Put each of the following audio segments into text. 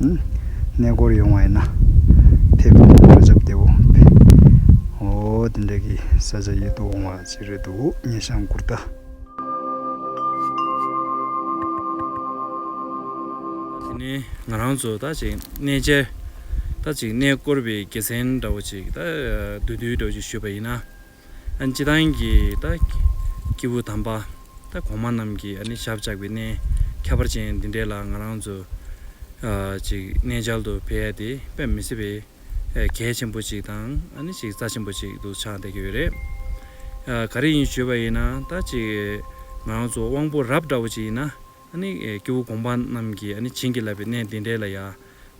གནས་སྐོར་ཡོང་བ་ཡིན་ན་ཕེབས་པའི་ནང་བཀྲ་ཆབ་བདེ་བོ་འོ་དེ་འདྲ་གི་ས་ཆ་ཡོད་དུ་འོང་བ་ཞིག་རེད་འདུག་སྙེ་ཤང་དགུ་རྟ། དེ་ནི་ང་རང་ཚོ་ད་ཅིག་གནས་མཇལ་ད་ཅིག་གནས་སྐོར་བའི་དགེ་མཚན་འདྲ་བོ་ཅིག་ད་བདུད་འདུལ་འདྲ་བོ་ཅིག་ཞུས་པ་ཡིན་ན། སྤྱི་བཏང་གི་སྐྱེས་བུ་དམ་པ་གོང་མ་རྣམས་ཀྱིས་ཞབས་བཅགས་པའི་གནས་ཁྱད་པར་ཅན་འདི་འདྲའི་ལ་ང་རང་ཚོ་གནས་མཇལ་དུ་ཕེབས་ཡ་དེ་དཔེ་མི་སྲིད་པའི་གལ་ཆེན་པོ་ཞིག་དང་རྩ་ཆེན་པོ་ཞིག་ཏུ་ཆགས་བསྡད་ཀྱི་ཡོད་རེད། ག་རེ་ཡིན་ཞུས་པ་ཡིན་ན་ང་རང་ཚོ་དབང་པོ་རབ་འདྲ་བོ་ཅིག་ཡིན་ན། སྐྱེ་བོ་གོང་པ་རྣམས་ཀྱིས་བྱིན་གྱིས་བརླབས་པའི་གནས་འདི་འདྲའི་ལ་ཡར་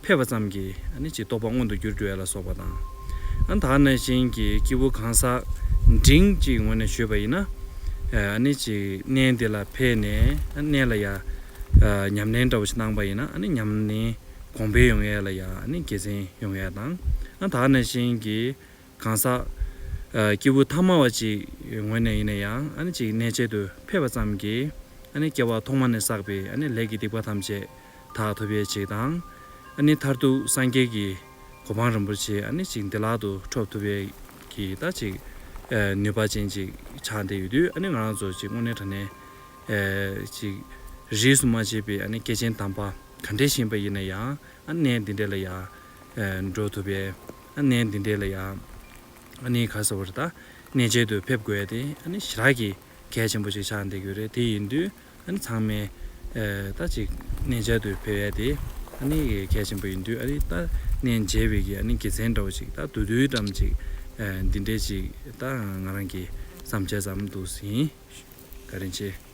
ཕེབས་པ་ཙམ་གྱིས་ཅི་རྟོགས་པ་མངོན་དུ་གྱུར་ཏེ་ལ་སོགས་པ་དང། དག་ན་བྱིན་གྱིས་སྐྱེ་བོ་གང་ཟག་འབྲིང་གཅིག་ངོ་ནས་བྱོས་པ་ཡིན་ན། གནས་འདི་ལ་ཕེབས་ནས་གནས་ལ་ཡར་ཉམས་ལེན་འདྲ་བོ་ཞིག་གནང་པ་ཡིན་ན་ཉམས་ལེན་གོང་འཕེལ་ཡོང་ཡས་ལ་ཡར་དགེ་མཚན་ཡོང་ཡས་དང། དག་ན་བྱིན་གྱིས་གང་ཟག། སྐྱེས་བུ་ཐ་མ་བ་ཅིག་ངོས་ནས་ཡིན་ན་ཡང་ཨ་ནི་ཅིག་གནས་བྱེད་དུ་ཕེབས་པ་ཙམ་གྱིས་ཨ་ནི་སྐྱེ་བ་ཐོག་མ་ནས་བསགས་པའི་ཨ་ནི་ལས་ཀྱི་སྡིག་པ་ཐམས་ཅད་དག་ཐུབ་པའི་ཆེད་དང། ཨ་ནི་མཐར་ཐུག་སངས་རྒྱས་ཀྱི་གོ་འཕང་རིན་པོ་ཆེ་ཨ་ནི་ཅིག་འདི་ལག་ཏུ་འཕྲོག་ཐུབ་པའི་ཀྱི་ད་ཅིག་ནུས་པ་ཅན་ཅིག་ཆགས་འདས་ཡོད་དུས་ཨ་ནི་ང་རང་ཚོ་ཅིག་དངོས་གནས་དྲ་གནས་ཅིག་རིས་སུ་མ་ཕྱེས་པའི་ཨ་ནི་སྐྱེས་ཆེན་དམ་པ་ག་འདྲས་བཞེངས་པ་ཡིན་ན་ཡང་ཨ་ནི་གནས་འདི་འདྲས་ལ་ཡང་འགྲོ་ཐུབ་པའི་གནས་འདི་འདྲའི་ལ་ཡང་ག་ས་བར་ད་གནས་མཇལ་དུ་ཕེབས་དགོས་ཏེ་ཞི་རགས་ཀྱི་གལ་ཆེན་པོ་ཞིག་ཆགས་འདེགས་ཡོད་རེད་དེ་ཡིན་དུས་ཚང་མས་ད་ཅིག་གནས་མཇལ་དུ་ཕེབས་ཡ་དེ་གལ་ཆེན་པོ་ཡིན་དུས་ད་གནས་མཇལ་བའི་གི་དགེ་མཚན་འདྲ་བོ་ཞིག་ད་དུ་དུས་ཙམ་ཅིག་འདི་འདྲའི་ཅིག་ད་ང་རང་གི་བསམ་འཆར་ཙམ་འདུག་ཟིན་ག་རེ་མཆིས།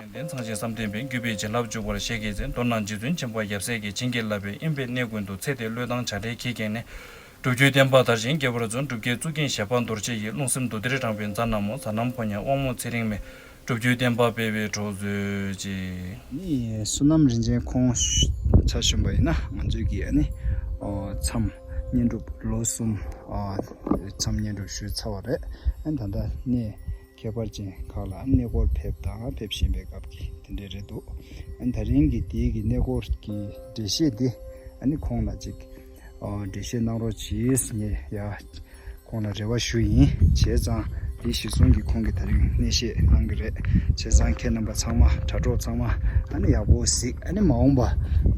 ཡོན་ཏན་ཚང་ཞིང་བསམ་གཏན་པའི་རྒྱུད་པས་བྱིན་རླབས་འཇུག་པར་བཞེས་དགེ་མཚན་མདོར་ན་རྗེ་བཙུན་ཆེན་པོ་ཡབ་སྲས་ཀྱིས་བྱིན་གྱིས་བརླབས་པའི་དབྱིངས་དཔེ་གནས་ཀུན་ཏུ་ཚེ་འདི་བློས་བཏང་བྱ་བྲལ་གྱིས་ཁེངས་ནས། སྒྲུབ་བརྒྱུད་བསྟན་པ་དར་ཞིང་རྒྱས་པར་བརྩོན་སྒྲུབ་བསྐྱེད་རྩུབ་རྒྱན་ཞལ་འཕགས་འདོར་བྱེད་ཀྱི་རླུང་སེམས་འདུ་སྡེར་དྲངས་པའི་མཛའ་ན་མོ་ཟ་ནམ་ཕོ་ཉའི་དབང་མོ་ཚེ་རིང་མས་སྒྲུབ་བརྒྱུད་བསྟན་པ་སྤེལ་བའི་གྲོགས་མཛོད་ཅིག། བསོད་ནམས་རིན་ཆེན་ཁོང་བྱ་གཞོན་པ་ཡིན་ན་ང་ཚོའི་གིས་ཨ་ནི་མཚམས། བསྙེན་སྒྲུབ་ལོ་གསུམ་མཚམས་བསྙེན་སྒྲུབ་ཞུས་ཚར་བ་རེད། ད་ལྟ་གནས་ཁྱད་པར་ཅན་ཁག་ལ་གནས་སྐོར་ཕེབས་དང་ཕེབས་བཞིན་པའི་སྐབས་ཀྱི་དེ་འདྲའི་རེད་འདུག་ད་རིང་གི་དེའི་གི་གནས་སྐོར་གྱི་འགྲེལ་བཤད་འདི་ཁོང་ལ་ཅིག་འགྲེལ་བཤད་གནང་རོགས་གྱིས་ངས་ཡ། ཁོང་ལ་རེ་བ་ཞུ་ཡིན། བྱས་ཙང་འདི་གཞིར་བཟུང་གིས་ཁོང་གིས་ད་རིང་གནས་བཤད་གནང་གི་རེད། བྱས་ཙང་ཁྱེད་རྣམ་པ་ཚང་མ་དྲ་གྲོགས་ཚང་མ་ཨ་ནི་ཡག་པོ་གཟིགས་ཨ་ནི་མ་འོངས་པ་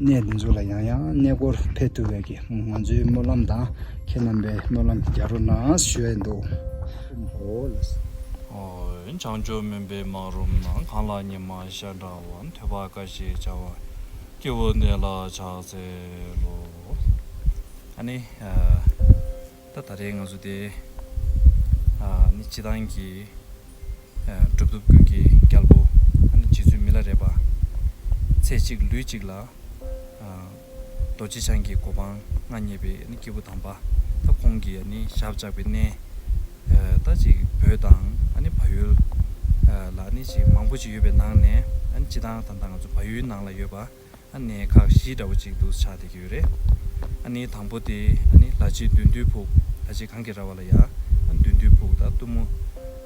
གནས་འདི་ཚོ་ལ་ཡང་ཡང་གནས་སྐོར་ཕེབས་ཐུབ་པའི་གི་ང་ཚོའི་སྨོན་ལམ་དང་ཁྱེད་རྣམ་པའི་སྨོན་ལམ་རྒྱ་རོ་ནངས་སུ་ཞོད་འདུག། བོད་བྱང་ཕྱོགས་མུན་པའི་སྨག་རུམ་ནང་གང་ལ་ཉི་མ་ཤར་འདྲ་བ་ཐོད་པ་ཀ་ཞེས་བྱ་བ་སྐྱེ་བོ་འདི་ལ་ཕྱག་འཚལ་ལོ། ཨཱ་ནི། ད་ད་རེས་ང་ཚོ་དེ། ཨཱ་ནི་སྤྱི་བཏང་གི། གྲུབ་ཐོབ་ཀུན་གྱི་རྒྱལ་པོ། ཨཱ་ནི་རྗེ་བཙུན་མི་ལ་རས་པ། ཚེ་གཅིག་ལུས་གཅིག་ལ། རྡོ་རྗེ་འཆང་གི་གོ་འཕང་མངའ་བརྙེས་པའི་ཨཱ་ནི་སྐྱེས་བུ་དམ་པ། ད་ཁོང་གི་ཨཱ་ནི་ཞབས་བཅགས་པའི་གནས། ད་ཅིག་བོད་དང་ཨཱ་ནི་བལ་ཡུལ། ལ་ཨཱ་ནི་ཅིག་མང་པོ་ཅིག་ཡོད་པའི་ནང་ནས་ཨཱ་ནི་སྤྱི་བཏང་དང་ད་ང་ཚོ་བལ་ཡུལ་ནང་ལ་ཡོད་པ། ཨ་ནི་ཁག་བཞི་འདྲ་བོ་གཅིག་འདུག་ཆ་དེ་གྱོད་རེད། ཨ་ནི་དང་པོ་དེ་ཨ་ནི་ལ་ཆེ་བདུན་བདུན་ཕུག་ལ་ཆེ་གང་གི་ར་བ་ལ་ཡ་བདུན་བདུན་ཕུག་དང་གཏུམ་མོ་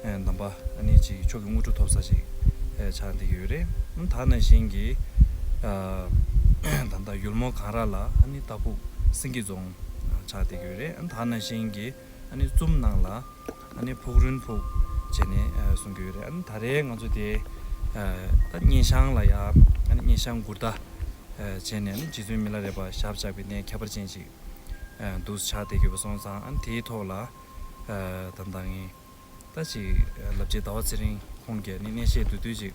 འདམ་པ་ཨ་ནི་གཅིག་ཕྱོགས་ཀྱི་དངུལ་གྲུ་ཐོབ་ས་གཅིག་ཆ་དེ་གྱོད་རེད། ད་ན་བཞིན་གྱི་ད་ལྟ་ཡུལ་མོ་གངས་ར་ལ་ཨ་ནི་རྟ་ཕུག་སེང་གེ་རྫོང་ཆ་དེ་གྱོད་རེད། ད་ན་བཞིན་གྱི་ཨ་ནི་གཙུམ་ནང་ལ། ད་ནི་ཕུག་རོན་ཕུག་བྱས་ནས་གསུང་གི་ཡོད་རེད་ཨ་ནི་ད་རེས་ང་ཚོ་དེ་ད་སྙན་ཤང་ལ་ཡ་ཨ་ནི་སྙན་ཤང་མགུར་རྟ་བྱས་ནས་ཨ་ནི་རྗེ་བཙུན་མི་ལ་རས་པ་ཞབས་བཅགས་པའི་གནས་ཁྱད་པར་ཅན་ཞིག་འདུག་ཕྱག་འདེབས་ཀྱི་བ་སོང་ཙང་ཨ་ནི་དེའི་ཐོག་ལ་ད་ད་ངེད་ད་ཅིག་ལབ་རྗེས་ཟླ་བ་ཚེ་རིང་ཁོང་གིས་ཨ་ནི་གནས་བཤད་དུས་དུས་ཅིག་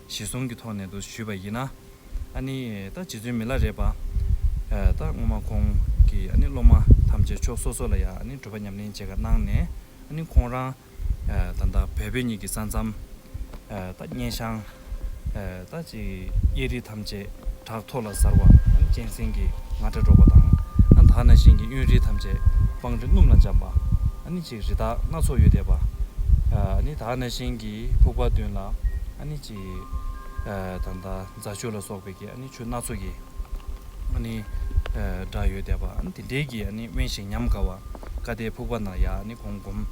ཞེས་གསུམ་གྱི་ཐོག་ནས་དུ་ཞུས་པ་ཡིན། ཨ་ནི་ད་རྗེ་བཙུན་མི་ལ་རས་པ། ད་སྔོན་མ་ཁོང་གི་ཨ་ནི་སློབ་མ་ཐམས་ཅད་ཕྱོགས་སོ་སོ་ལ་ཡང་ཨ་ནི་བགྲོད་པ་ཉམས་ལེན་བྱེད་ཀ་གནང་ནས་ཨ་ནི་ཁོང་རང། ད་ལྟ་བལ་བོད་གཉིས་ཀྱི་ས་མཚམས། ད་སྙན་ཤང། ད་ཅིག་གཡས་རི་ཐམས་ཅད་བྲག་མཐོ་ལ་གཟར་བ་ཨ་ནི་གཅན་གཟན་གྱི་ང་སྒྲ་སྒྲོག་པ་དང། ད་ན་ཤིང་གི་གཡོན་རི་ཐམས་ཅད་སྤང་རི་སྣུམ་ལ་འཇམ་པ་ཨ་ནི། རི་དྭགས་སྣ་ཚོགས་ཡོད་དད་པ། ནི་དག་སྣ་ཤིང་གི་ཕུག་པ་བདུན་ལ། ནི་ཅི། དང་དང་རྫ་ཆུ་ལ་སོགས་པའི་གི། ནི་ཆུ་སྣ་ཚོགས་ཀྱི། ནི། སྒྲ་ཡོད་དད་པ། དེ་འདྲའི་གི། ནི་དབེན་ཞིང་ཉམས་དགའ་བ། བཀའ་གཏད་ཕུག་པ་ན་ཡ། ནི་གོང་བསྒོམ།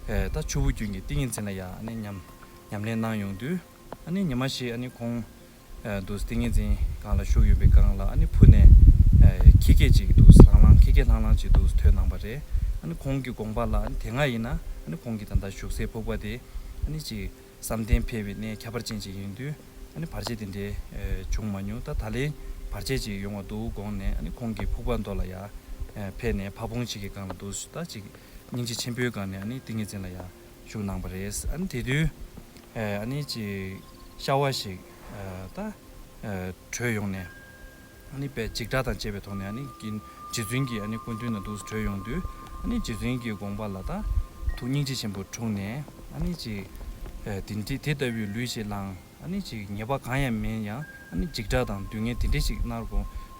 ད་ཆུ་བོ་རྒྱུན་གྱི་ཏིང་ངེ་འཛིན་ལ་ཡ། ནི་ཉམས། ཉམས་ལེན་གནང་ཡོང་དུས། ནི་ཉི་མ་ཞིག། ནི་གོང། འདུག་ཏིང་ངེ་འཛིན་སྒང་ལ་བཞུགས་ཡོད་པའི་སྒང་ལ་ཨ་ནི་ཕུ་ནས་ཁྱི་སྐད་ཅིག་འདུག་ལྷང་ལྷང་ཁྱི་སྐད་ལྷང་ལྷང་ཅིག་འདུག་ཐོས་སྣང་བ་རེད། ཨ་ནི་ཁོང་གི་དགོངས་པ་ལ་དེ་སྔ་ཡིན་ན་ཨ་ནི་ཁོང་གི་ད་ལྟ་བཞུགས་སའི་ཕུག་པ་དེ་ཨ་ནི་ཅིག་བསམ་གཏན་འཕེལ་བའི་གནས་ཁྱད་པར་ཅན་ཅིག་ཡིན་དུས་ཨ་ནི་བར་ཆད་དེ་འདྲའི་བྱུང་མ་མྱོང་ད་ད་ལན་བར་ཆད་ཅིག་ཡོང་བ་འདུག་དགོངས་ནས་ཨ་ནི་ཁོང་གི་ཕུག་པ་མདོ་ལ་ཡར་འཕེལ་ནས་ཕ་བོང་ཅིག་གི་སྒང་ལ་འདུག་ད་ཅིག་སྙིང་རྗེ་ཆེན་པོའི་སྒང་ནས་ཨ་ནི་ཏིང་ངེ་འཛིན་ལ་ཡར་བཞུགས་གནང་བ་རེད། ཨ་ནི་དེ་དུས་ཨ་ནི་ཅིག་ཤྭ་བ་ཞིག་ད་བྲོས་ཡོང་ནས་ཨ་ནི་པད་འཇིགས་སྒྲ་དང་བཅས་པའི་ཐོག་ནས་ཨ་ནི་གི་རྗེ་བཙུན་གྱི་ཨ་ནི་སྐུ་མདུན་ན་འདུག་བྲོས་ཡོང་དུས་ཨ་ནི་རྗེ་བཙུན་གྱི་དགོངས་པ་ལ་ད་ཐུག་སྙིང་རྗེ་ཆེན་པོ་འཁྲུངས་ནས་ཨ་ནི་ཅིག་དེ་ལྟ་བུའི་ལུས་ཞིག་བླངས། ནི་ཅིག་ཉེས་པ་གང་ཡང་མིན་ཡང་འཇིགས་སྐྲག་དང་སྡུག་བསྔལ་དེ་འདྲས་ཤིག་མནར་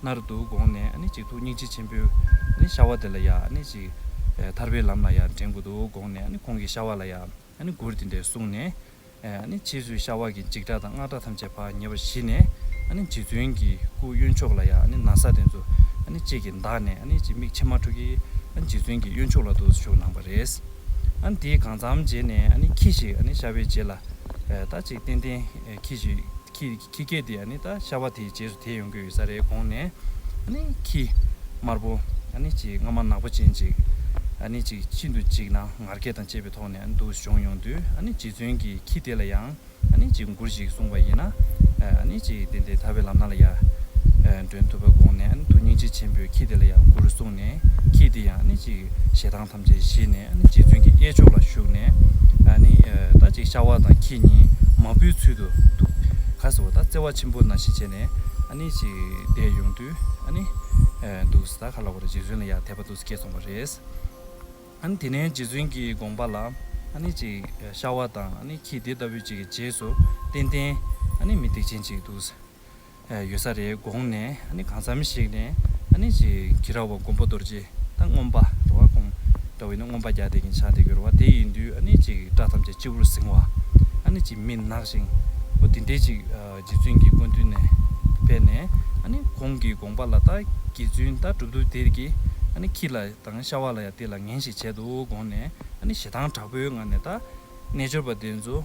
མནར་འདུག་དགོངས་ནས་ནི་ཅིག་ཐུགས་སྙིང་རྗེ་ཆེན་པོས་ཤྭ་བ་དེ་ལ་ཡང་ནི་ཅིག་ཐར་པའི་ལམ་ལ་ཡང་འདྲེན་དགོས་འདུག་དགོངས་ནས་ནི་ཁོང་གིས་ཤྭ་བ་ལ་ཡང་ནི་མགུར་དེ་འདྲས་གསུངས་ནས་ནི་ཕྱིས་སུ་ཤྭ་བ་གྱིས་འཇིགས་སྐྲག་དང་མངལ་སྐྲག་ཐམས་ཅད་བག་ཉལ་བ་ཞི་ནས་ནི་རྗེ་བཙུན་གྱི་སྐུ་གཡོན་མཆོག་ལ་ཡང་ནི་ན་བཟའ་དེ་ཚོ་ནི་ཅིག་གིས་འདགས་ནས་ནི་ཅིག་མིག་མཆི་མ་འཁྲུགས་ཀྱིས་རྗེ་བཙུན་གྱི་གཡོན་མཆོག་ལ་འདུག་ཏུ་བཅུག་གནང་བ་རེད། ཨཱ་དེས་གང་འཚམ་བྱས་ནས་ཨཱ་ཁྱི་ཞིག་ཨཱ་ཤ་བའི་རྗེས་ལ་ད་ཅིག་ཏན་ཏན་ཁྱི་ཞིག་ཁྱི་སྐད་དེ་ཨཱ་ད་ཤ་བ་དེའི་རྗེས་སུ་དེད་ཡོང་གི་ཡོད་ས་རེད་དགོངས་ནས་ཨཱ་ཁྱི་དམར་པོ་ཨཱ་ཅིག་རྔ་མ་ནག་པོ་ཅན་ཅིག་ཨཱ་ཅིག་ཤིན་ཏུ་ཅིག་ན་ངར་སྐད་དང་བཅས་པའི་ཐོག་ནས་ཨཱ་འདུག་བྱུང་ཡོང་དུས་ཨཱ་རྗེ་བཙུན་གྱིས་ཁྱི་དེ་ལ་ཡང། ནི་ཅིག་མགུར་ཞིག་གསུངས་པ་ཡིན། ནི་ཅིག་དེ་འདི་ཐར་པའི་ལམ་སྣ་ལ་ཡང། འདྲོན་ཐུབ་པར་དགོངས་ནས་ནི་ཐུགས་སྙིང་རྗེ་ཆེན་པོས་ཁྱེད་འདི་ལ་ཡང་མགུར་གསུངས་ནས་ཁྱེད་འདི་ཡང་ནི་ཅིག་ཞེ་སྡང་ཐམས་ཅད་ཞི་ནས་ནི་ཅིག་བཙུན་གྱི་གཡས་ཕྱོགས་ལ་བཞུགས་ནས། ནི་ད་ཅིག་ཤ་བ་དང་ཁྱི་གཉིས་མ་བུའི་ཚུལ་དུ་ཐུགས་ཁ་ཟེ་བོ་དང་བརྩེ་བ་ཆེན་པོ་ན་ཞི་བྱས་ནས། ནི་ཅིག་བསྡད་ཡོང་དུས། ནི་འདུག་ཟེ་ད་ག་ལ་བ་རེད་ཅིག་བཟུན་ལ་ཡང་དད་པ་འདུག་ཟེ་ཁྱེད་གསུངས་པ་རེད། ཨཱ་ནི། དེ་ནས་རྗེ་བཙུན་གྱི་དགོངས་པ་ལ། ཨཱ་ནི། ཅིག་ཤ་བ་དང་ཨཱ་ནི། ཁྱི་དེ་ལྟ་བུ་ཅིག་གི་རྗེས་སུ་བསྟན། བསྟན། ཨཱ་ནི་མི་སྡིག་ཅན་ཅིག་འདུག། ཡོད་ས་རེད་དགོངས་ནས་ཨཱ་ནི། གང་བསམ་ཞིག་ནས་ཨཱ་ནི། ཅིག་ཁྱི་ར་བ་མགོན་པོ་རྡོ་རྗེ་དང་སྔོམ་པ་འགྲོ་བ་གོང། འདྲ་བའི་ནི་སྔོམ་པ་བརྒྱ་སྟེ་གིང་ཆག་དེ་གྱུར་བ་དེ་ཡིན་དུས་ཨཱ་ནི། ཅིག་སྐྲ་ཐམས་ཅད་སྤྱི་བོར་གཟིང་བ་ཨཱ་ནི། ཅིག་མི་ནག་ཞིང་བོ་དེ་འདྲས་ཅིག་རྗེ་བཙུན་གྱི་སྐུ་མདུན་ནས་ཕེབས་ནས་ཨཱ་ནི། ཁོང་གི་དགོངས་པ་ལ་ད་ཀྱི་བརྫུན་ད་གྲུབ་འདུག་དེར་གྱིས་ཨཱ་ནི། ཁྱི་ལ། དང་ཤ་བ་ལ་ཡང་དེ་ལ་ངན་ཞིག་བྱེད་དོ་དགོངས་ནས་ཞེ་སྡང་དྲག་པོའི་ངང་ནས་ད། རྣལ་འབྱོར་པ་འདི་ཚོ།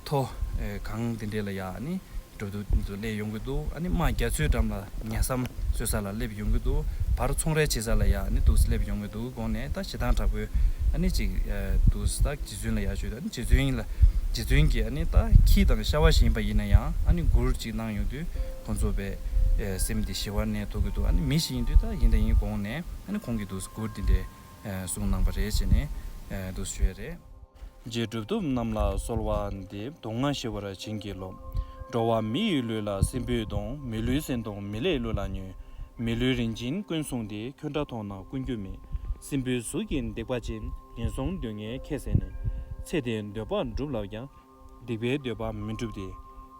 ཐོ། གང་འདི་འདྲས་ལ་ཡང། འགྲོ་འདུག་འདི་ཚོ་སླད་ཡོང་གི་འདུག་རྨ་རྒྱ་མཚོའི་འགྲམ་ལ་ཉལ་སའམ་གསོད་ས་ལ་སླེབས་ཡོང་གི་འདུག་བར་ཚོང་རའི་བྱེད་ས་ལ་ཡང་འདུག་སླེབས་ཡོང་གི་འདུག་དགོངས་ནས་ད་ཞེ་སྡང་དྲག་པོའི། ཅིག། འདུག་ད་རྗེ་བཙུན་ལ་ཡང་ཞུས་ཏེ་རྗེ་བཙུན་ལ། རྗེ་བཙུན་གྱིས་ད་ཁྱི་དང་ཤ་བ་བཞིན་པ་ཡིན་ན་ཡང་མགུར་ཅིག་གནང་ཡོང་དུས། ཁོ་ཚོ་བས། སེམས་འདི་ཞི་བར་ནས་ཐུག་གི་འདུག་མི་ཞིག་ཡིན་དུས་ད་ཡིན་ད་ཡིན་དགོངས་ནས་ཁོང་གིས་དུ་སྐུར་འདི་འདྲའི་གསུང་གནང་པ་རེད་ཅེས་ནས་དུ་བཤོལ་རེད། རྗེས་གྲུབ་ཐོབ་རྣམས་ལ་གསོལ་བ་འདེབས་དུག་ལྔ་ཞི་བར་བྱིན་གྱིས་རློབས། འགྲོ་བ་མི་ཡི་ལུས་ལ་སྲིན་བུས་གདོང་མི་ལུས་སེན་གདོང་མི་ལས་གླུ་ལ་ཉོན། མི་ལུས་རིན་ཆེན་ཀུན་བཟུང་དེ་ཁྱོད་འདྲ་མཐོང་ན་ཀུན་རྒྱུ་མེད། སྲིན་བུའི་གཟུགས་ཀྱིས་འདེགས་པ་ཅན་ངན་སོང་སྡུག་བསྔལ་ཁྱད་བསད་ནས། ཚེ་འདིའི་འདོད་པ་འགྲུབ་ལབ་ཀྱང་སྡིག་པའི་འདོད་པ་མི་འགྲུབ་སྟེ།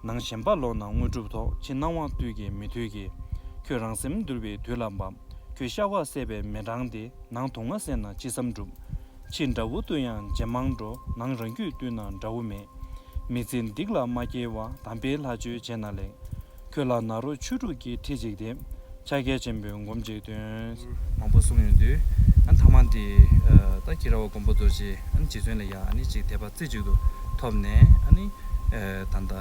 ནང་ཞེན་པ་ལོག་ན་དངོས་གྲུབ་ཐོག་ཕྱི་སྣང་བ་དུས་ཀྱི་མི་མཐུས་ཀྱི། ཁྱོད་རང་སེམས་འདུལ་བའི་དུས་ལ་འབབ། ཁྱོད་ཤ་བ་བསད་པའི་མེ་འབྲང་སྟེ་ནང་དུག་ལྔ་བསད་ན་ཅི་བསམ་འགྲུབ། ཕྱི་འདྲ་བོ་བཏུལ་ཡང་ཇེ་མང་འགྲོ་ནང་རང་རྒྱུད་བཏུལ་ན་འདྲ་བོ་མེད། མི་ཚེ་སྡིག་ལ་མ་སྐྱེལ་བར་དམ་པའི་ལྷ་ཆོས་བྱས་ན་ལེགས། ཁྱོད་ལ་ནཱ་རོ་ཆོས་དྲུག་གི་ཁྲིད་ཅིག་སྟེ། ཕྱག་རྒྱ་ཆེན་པོའི་སྒོམ་གཅིག་སྟོན། མང་པོ་གསུངས་ཡོང་དུས། ཐ་མ་འདི། ད་ཁྱི་ར་བ་མགོན་པོ་རྡོ་རྗེ་རྗེ་བཙུན་ལ་ཡང་གཅིག་དད་པ་རྩེ་གཅིག་ཏུ་ཐོབ་ནས། ད་ལྟ་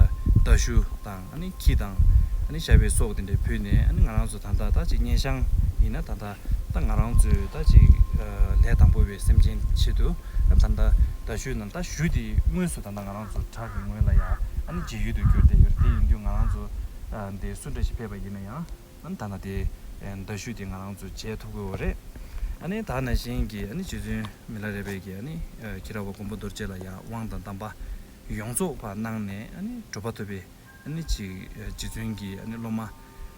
རྟ་ཞུ་དང་ཁྱི་དང། ཤ་བའི་སོགས་དེ་འདྲ་ཕུལ་ནས་ང་རང་ཚོ་ད་ལྟ་ད་ཅིག་གཉེན་ཤང་ཡིན་ན་ད་ལྟ་ད་ང་རང་ཚོས་ད་ཅིག་ལས་དང་པོ་བའི་སེམས་ཅན་ཆེད་དུ། ད་ལྟ་རྟ་ཞུ་ན་རྟ་ཞུ་དེ་དངོས་སུ་ད་ལྟ་ང་རང། ང་རང་ཚོ་བྲག་གི་ངོས་ལ་ཡང་ནི་བརྗེ་ཡུལ་དུ་གྱུར་ཏེ་ཡོད་རེད་དེ་ཡིན་དུས་ང་རང་ཚོ་འདི་སུ་འདྲ་ཞིག་ཕེབས་པ་ཡིན་ན་ཡང་ད་ནི་དེའི་འདྲ་བཤུས་དེ་ང་རང་ཚོ་བྱེད་ཐུབ་དགོས་བ་རེད། ཨ་ནི་ད་ནི་གཞན་གྱི་ཨ་ནི་རྗེ་བཙུན་མི་ལ་རས་པས་ཀྱི་ཨ་ནི་ཁྱི་ར་བ་མགོན་པོ་རྡོ་རྗེ་ལ་ཡང་དབང་དང་གདམས་པ་ཡོངས་རྫོགས་པ་གནང་ནས་ཨ་ནི་གྲུབ་པ་ཐོབ་པའི་ཨ་ནི་ཅིག་རྗེ་བཙུན་གྱི་ཨ་ནི་སློབ་མ་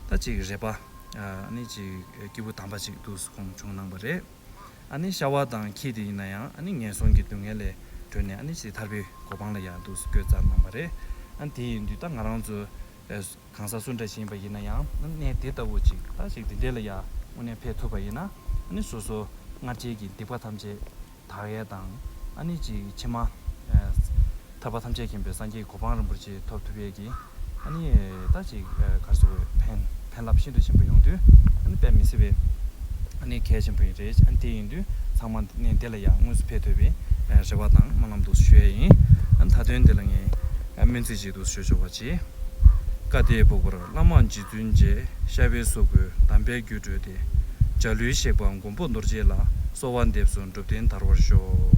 ད་ཅིག་རས་པ་ཨ་ནི་ཅིག་སྐྱེས་བུ་དམ་པ་ཅིག་ཏུ་གསུངས་བྱུང་གནང་བ་རེད། ཤ་བ་དང་ཁྱི་དེ་ཡིན་ན་ཡང་ངན་སོང་གི་སྡུག་བསྔལ་ལས་གྲོལ་ནས་ཕྱིས་ཐར་པའི་གོ་འཕང་ལ་ཡང་འདུག་སྐྱོ་ཙམ་གནང་བ་རེད། དེ་ཡིན་དུས་ད་ང་རང་ཚོ་གང་ཟག་སུ་འདྲ་ཞིག་ཡིན་པ་ཡིན་ན་ཡང་གནས་དེ་ལྟ་བུ་ཅིག་ད་ཅིག་འདི་འདྲས་ལ་ཡང་དངོས་གནས་ཕེབས་ཐུབ་པ་ཡིན་ན་སོ་སོ་སྔར་རྗེས་ཀྱི་སྡིག་པ་ཐམས་ཅད་དག་ཡས་དང་ཅིག་ཕྱི་མ། ཐར་པ་ཐམས་ཅད་མཁྱེན་པའི་སངས་རྒྱས་གོ་འཕང་རིན་པོ་ཆེ་ཐོབ་ཐུབ་ཡས་ཀྱིས། ཨཱ་ནི། ད་ཅིག་གར་སོང་བས། ཕན། ཕན་རླབས་ཤིན་ཏུ་ཆེན་པོ་ཡོང་དུས། ཨཱ་ནི་དཔལ་མི་སྲིད་པས། ཨཱ་ནི་གལ་ཆེན་པོ་ཡིན། རེད། ཨཱ་ནི་དེ་ཡིན་དུས་ཚང་མ་ནས་འདི་ལ་ཡང་དངོས་སུ་ཕེབས་འདོད་པའི་རེ་བ་དང་སྨོན་ལམ་འདུག་ཞུ་ཡས་ཡིན། ཨཱ་ནི་ད་དོན་འདི་ལ་ངས། སྨོན་ཚིག་ཅིག་འདུག་ཞུ་ཆོག་པ་ཅི། བཀའ་དེའི་བུག་པར་བླ་མ་རྗེ་བཙུན་མཇལ། ཤར་བའི་གཟུགས་སྐུའི་གདམས་པའི་རྒྱུད་བཀྲོལ་ཏེ། འཇའ་ལུས་གཤེགས་པ་མགོན་པོ་རྡོ་རྗེ་ལ། གསོལ་བ་འདེབས་སོ་འགྲུབ་བསྟན་དར་བར་ཤོག།